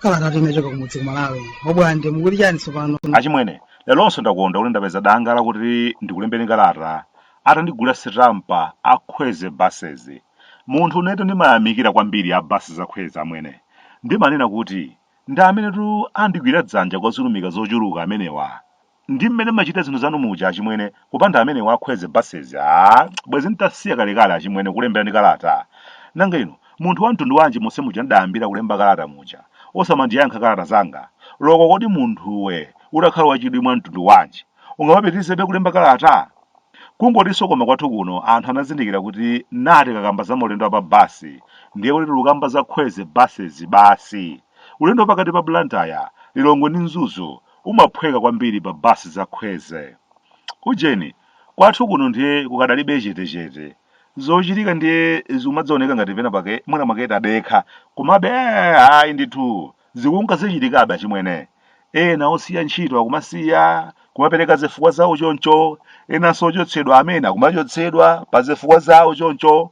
kalata yochoka kumudzi kumalawi obwande mukuti chani tsopano achimwene leronso ndakondwa kuti ndapeza danga lakuti ndikulembeni kalata atandigula sitampa akhweze basezi munthu unetu ndimayamikira kwambiri a basi za khweze amwene ndimanena kuti Ndi amenetu andigwira dzanja kwa zolumika zochuluka amenewa. Ndi mmene mmachita zinthu zanu muja achimwene, kupanda amenewa a Khweze Basezi aah bwezi n'tasiya kalekale achimwene kukulemberani kalata. Nanga inu, munthu wa mtundu wanji monse muja n'dayambira kulemba kalata muja, osamandiyankha kalata zanga? Loko kodi munthuwe utakhala wachidwi mwa mtundu wanji, ungamapitirizebe kulemba kalata? Kungotinso koma kwathu kuno anthu anazindikira kuti naa tikakamba za maulendo a pa basi ndiye kuti tikukamba za Khweze Basezi basi. Ulendo wa pakati pa Blantyre, Lilongwe ndi Mzuzu umaphweka kwambiri pa basi za Khweze. Ujeni, kwathu kuno ndiye kukadalibe chetechete. Zochitika ndiye zikumadzioneka ngati penapake mwinamwake tadekha, komabe ayi ndithu Zikunka zichitikabe achimwene. Ena osiya ntchito akumasiya, kumapereka zifukwa zawo choncho, enanso ochotsedwa amene akumachotsedwa pa zifukwa zawo choncho,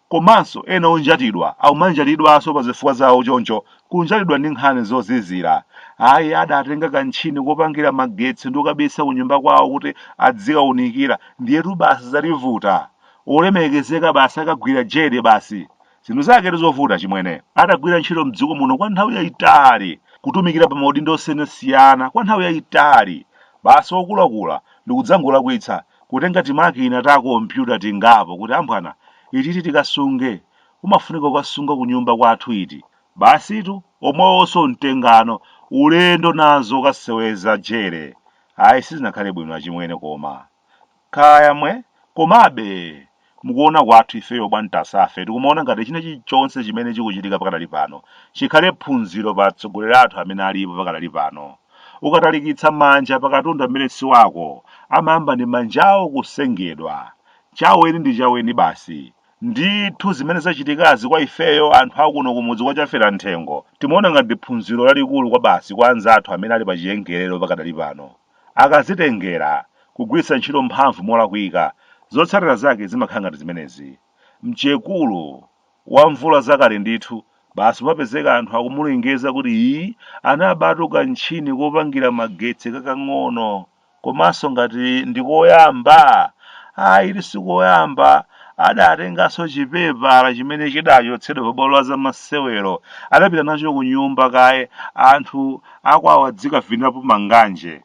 komanso ena onjatidwa akumanjatidwanso pa zifukwa zawo choncho, kunjatidwa ndi nkhani zozizira. Ayi adatenga kantchini kopangira magetsi ndikukabisa kunyumba kwawo kuti adzikaunikira, ndiyetu basi zalivuta. Olemekezeka basi akagwira jere basi. Zinthu zake ndi zovuta chimwene. Adagwira ntchito mdziko muno kwa nthawi yayitali, kutumikira pa maudindo osiyanasiyana kwa nthawi yayitali, basi okulakula ndikudzangolakwitsa kutenga timakina ta kompyuta tingapo kuti amphwanga, ititi tikasunge, umafunika kukasunga kunyumba kwathu iti, basitu omwewonso mtengano, ulendo nazo kukaseweza jere. Ayi sizinakhale bwino achimwene koma. Kaya mwe, komabe mukuona kwathu ifeyo bwa Ntasafe tikumaona ngati china chilichonse chimene chikuchitika pakadali pano chikhale phunziro pa atsogoleri athu amene alipo pakadali pano. Ukatalikitsa manja pa katundu amene si wako, amayamba ndi manjawo kusengedwa. Chaweni ndi chaweni basi. Ndithu zimene zachitikazi kwa ifeyo anthu a kuno kumudzi kwa Chaferamthengo timaona ngati ndi phunziro lalikulu kwabasi kwa anzathu amene ali pachiyengerero pakadali pano. akazitengera kugwiritsa ntchito mphamvu molakwika, zotsatira zake zimakhala ngati zimenezi. Mchekulu wa mvula zakale ndithu, basi kumapezeka anthu akumulengeza kuti ii anabatu kantchini kopangira magetsi kakang'ono komanso ngati ndi koyamba, ayi sikoyamba, adatenganso chipepala chimene chidachotsedwa pabwalo la zamasewero adapita nacho kunyumba kaye anthu akwawa adzikavinirapo manganje.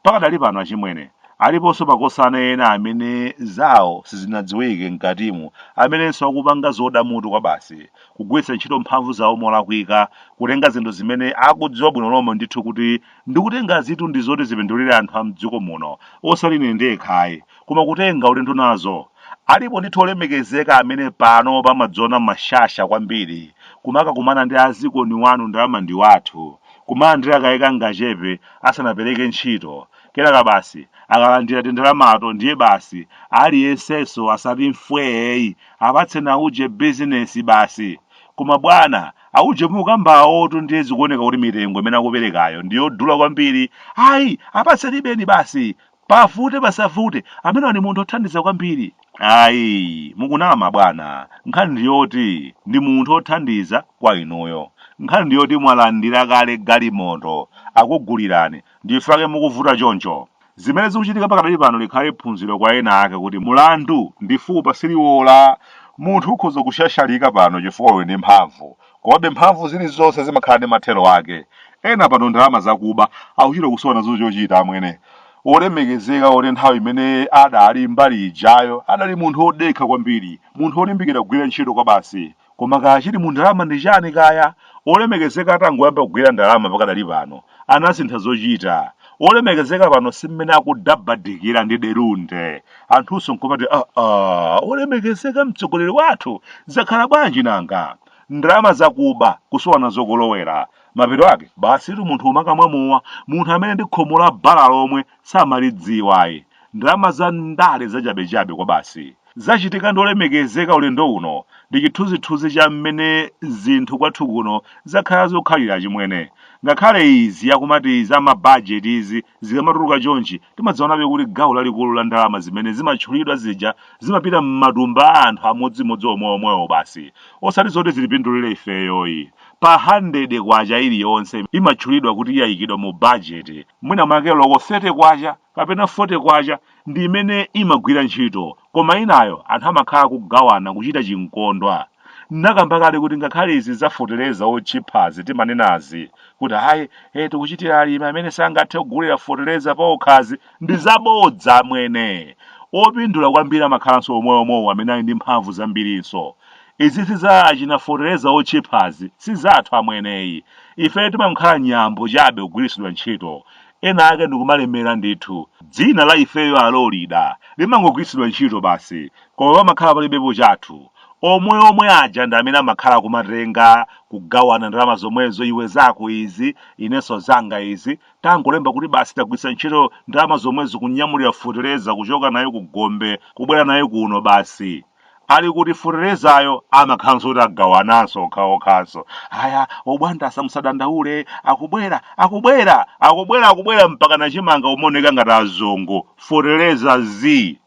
Pakadali pano achimwene aliponso makosana ena amene zawo sizinadziwike mkatimu amenenso akupanga zoda mutu kwabasi, kugwiritsa ntchito mphamvu zawo molakwika, kutenga zinthu zimene akudziwa bwino lomwe ndithu kuti ndikutengazitu ndizoti zipindulire anthu a m'dziko muno osati ine ndekha ayi, koma kutenga ulendo nazo. Alipo ndithu olemekezeka amene pano pamadzona mashasha kwambiri, kumakakumana ndi azikoni wanu ndalama ndi wathu, kumalandira kaye kangachepe asanapereke ntchito, kenaka basi akalandira tindalamato ndiye basi aliyensenso asati mfweeyi apatseni auje bizinesi basi. Koma bwana, auje mukukambayotu ndiye zikuoneka kuti mitengo imene akuperekayo ndi yodula kwambiri, ayi apatsenibe basi Pavute pasavute ameneyu ndi munthu othandiza kwambiri. Ayi mukunama bwana nkhani ndiyoti ndi munthu othandiza kwa inuyo. Nkhani ndiyoti mwalandira kale galimoto akugulirani ndichifukwa chake mukuvuta choncho. Zimene zikuchitika pakadali pano likhale phunziro kwa ena ake kuti mulandu ndi fupa siliwola. Munthu ukhoza kushashalika pano chifukwa uli ndi mphamvu Komabe mphamvu zilizonse zimakhala ndi mathero ake. Ena pano ndalama zakuba akuchita kusowa nazo chochita amwene. Wolemekezeka woti nthawi imene adali mbali ijayo adali munthu wodekha kwambiri, munthu wolimbikira kugwira ntchito kwabasi. Koma kaya chili mu ndalama ndi chani kaya? Wolemekezeka atangoyamba kugwira ndalama pakadali pano, anasintha zochita. olemekezeka pano si mmene akudabadikira ndi delude anthunso nkumati aa olemekezeka mtsogoleri wathu zakhala bwanji nanga ndalama zakuba kusowa nazo kolowera mapeto ake basitu munthu kumakamwa mowa munthu amene ndi khomo la bala lomwe samalidziwa ayi ndalama za ndale zachabechabe kwa basi Zachitika ndi olemekezeka ulendo uno ndi chithunzithunzi cha mmene zinthu kwathu kuno zakhala zikukhalira achimwene. Ngakhale izi akumati za ma budget izi zikamatuluka chonchi timadziwabe kuti gawo lalikulu la ndalama zimene zimatchulidwa zija zimapita mmatumba a anthu amodzimodzi omweomwewo basi osati zoti zitipindulire ifeyoyi. Pa K100 iliyonse imatchulidwa kuti yaikidwa mu budget mwina mwake loko K30 kapena 40 kwacha ndi imene imagwira ntchito koma inayo anthu amakhala kugawana kuchita chinkondwa nakamba kale kuti ngakhale izi za fetereza otchiphazi timanenazi kuti ayi e tikuchitira alimi amene sangathe kugula fetereza paokhazi ndi zabodza amwene opindula kwambiri amakhalanso omweomwewo amene ali ndi mphamvu zambirinso izizi za achina fetereza otchiphazi si zathu amweneyi ife timakhala nyambo chabe kugwiritsidwa ntchito Ena ake ndikumalemera ndithu. Dzina la ifeyo a Lolida limangogwiritsidwa ntchito basi, koma pamakhala palibepo chathu. Omwe omwe aja ndi amene amakhala akumatenga, kugawana ndalama zomwezo iwe zako izi, inenso zanga izi, tangolemba kuti basi tagwiritsa ntchito ndalama zomwezo kunyamulira fetereza kuchoka nayo ku gombe kubwera nayo kuno basi. ali kuti feterezayo amakhalanso kuti agawananso okhaokhanso ayi obwantasa musadandaule akubwera akubwera akubwera akubwera mpakana chimanga umaoneka ngati azungu fetereza zii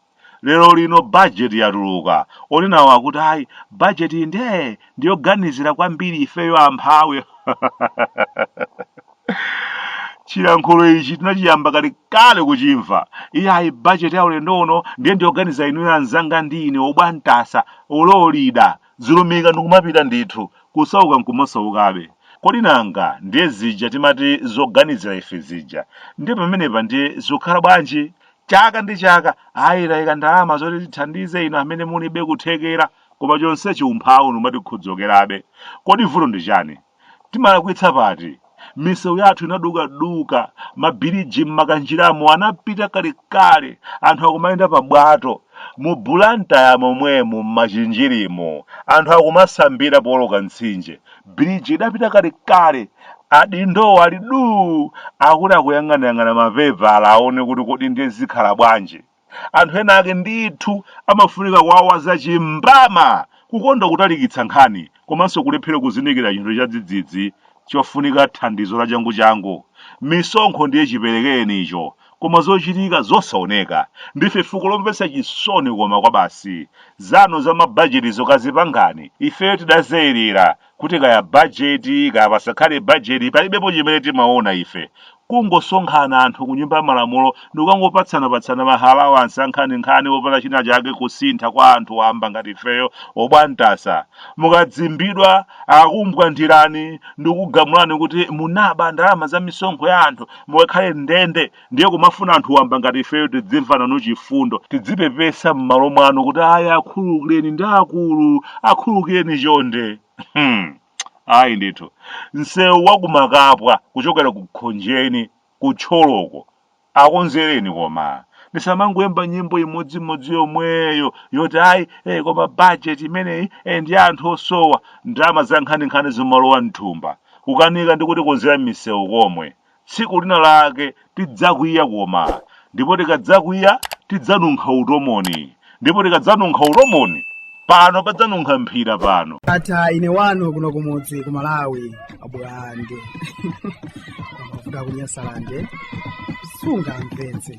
lero lino bajeti yatuluka onenawo akuti ayi bajeti nde ndiyoganizira kwambiri ifeyo amphawi chilankhulo ichi tinachiyamba kale kale kuchimva iyayi bajeti ya ulendo uno ndiye ndiyoganizira inuyo anzanga ndi ine obwantasa ololida zilumika ndikumapita ndithu kusauka nkumasaukabe kodi nanga ndiye zija timati zoganizira ife zija ndiye pamenepa ndiye zikukhala bwanji chaka ndi chaka ayi tayika ndalama zoti tithandize inu amene mulibe kuthekera koma chonsechi umphawi umatikhuthukirabe kodi vuto ndi chani Timalakwitsa pati? Misewu yathu inadukaduka, ma biliji mmakanjiramo anapita kalekale, anthu akumayenda pa bwato, mu Blantyre momwemu mmachinjirimu anthu akumasambira pooloka mtsinje, biliji idapita kalekale, adindowo ali duu akuti akuyang'anayang'ana ma pepala aone kuti kodi ndiye zikhala bwanji. Anthu ena ake ndithu amafunika kuwawaza chimbama, kukonda kutalikitsa nkhani, komanso kulephera kuzindikira chinthu chadzidzidzi chofunika thandizo lachanguchangu. Misonkho ndiye chiperekerenicho, koma zochitika zosaoneka. Ndife fuko lomvetsa chisoni koma kwabasi. Zanu za mabajetizo kazipangani, ifeyo tidazeirira, kuti kaya bajeti kaya pasakhale bajeti palibepo chimene timaona ife kungosonkhana anthu ku nyumba ya malamulo ndikukangopatsanapatsana ma alawansi ankhaninkhani opanda china chake kusintha kwa anthu wamba ngati ifeyo obwantasa mukadzimbidwa akumbwandirani ndikugamulani kuti munaba ndalama za misonkho ya anthu mukakhale m'ndende ndiye kumafuna anthu wamba ngati ifeyo tidzimva nanu chifundo tidzipepesa m'malo mwanu kuti ayi akhululukireni ndi akulu akhululukireni chonde hmm. ayi ndithu msewu wakumakapwa kuchokera ku khonjeni ku thyoloko akonzereni koma ndisamangoyimba nyimbo imodzimodzi yomweyo yoti ayi eh, koma bajeti imeneyi eh, ndi ya anthu osowa ndalama za nkhaninkhani zimalowa mthumba kukanika ndi kutikonzera misewu komwe Tsiku lina lake tidzakwiya koma, ndipo tikadzakwiya tidzanunkha utomoni, ndipo tikadzanunkha utomoni pano padzanunkha mphira pano. ata ine wanu kuno kumudzi ku malawi a Blande mafuta kunyasalande sungamvetse